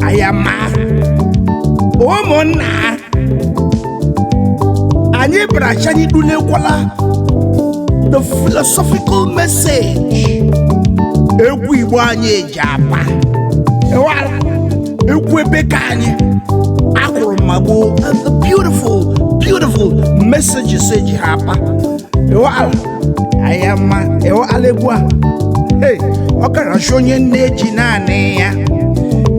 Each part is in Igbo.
ayama ụmụnna anyị bịara chi anyị dulekwala the philosophical message egwu igbo anyị eji apa ewara egwu ebe ka anyị akwụrụ ma gboo and the beautiful beautiful messages eji ha apa ewara ayama ịhụ alịgbu a Hey, ọ karachi onye nne ji naanị ya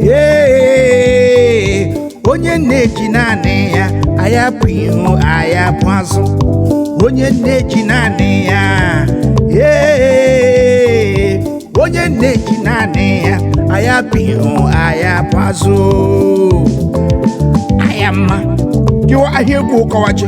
Hey, onye nne ji naanị ya agha bụ ihu agha bụ azụ onye nne ji naanị ya Hey, onye nne ji naanị ya agha bụ ihu agha bụ azụ ayama jụọ ahịa egwu ụkọwachi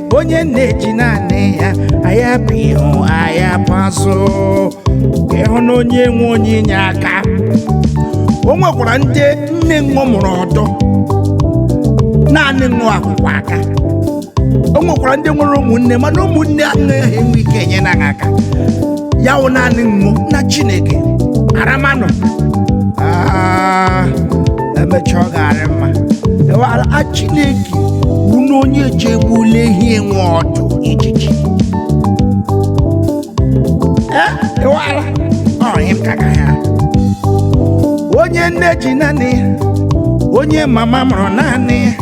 onye nne ji naanị ya agha bụ ihu agha bụ azụ ịhụ na onye enwe onye inye aka o nwekwara ndị nne ṅụ mụrụ ọdọ naanị ṅụ akwụkwọ aka o nwekwara ndị nwere ụmụnne mana ụmụnne anaghị enwe ike enye na ha aka ya wụ naanị ṅụ na chineke aramanụ Ah, emecha ọ ga-arị mma ewara a chineke bụ na onye ji egbula ehi enwe ọdụ ijiji Eh, ewara ọ ihe m ka ga ya onye nne ji naanị ya onye mama mụrụ naanị ya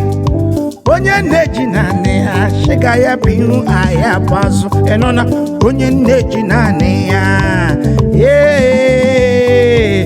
onye nne ji naanị ya sị agha bụ ihu agha bụ azụ ịnụ na onye nne ji naanị ya ee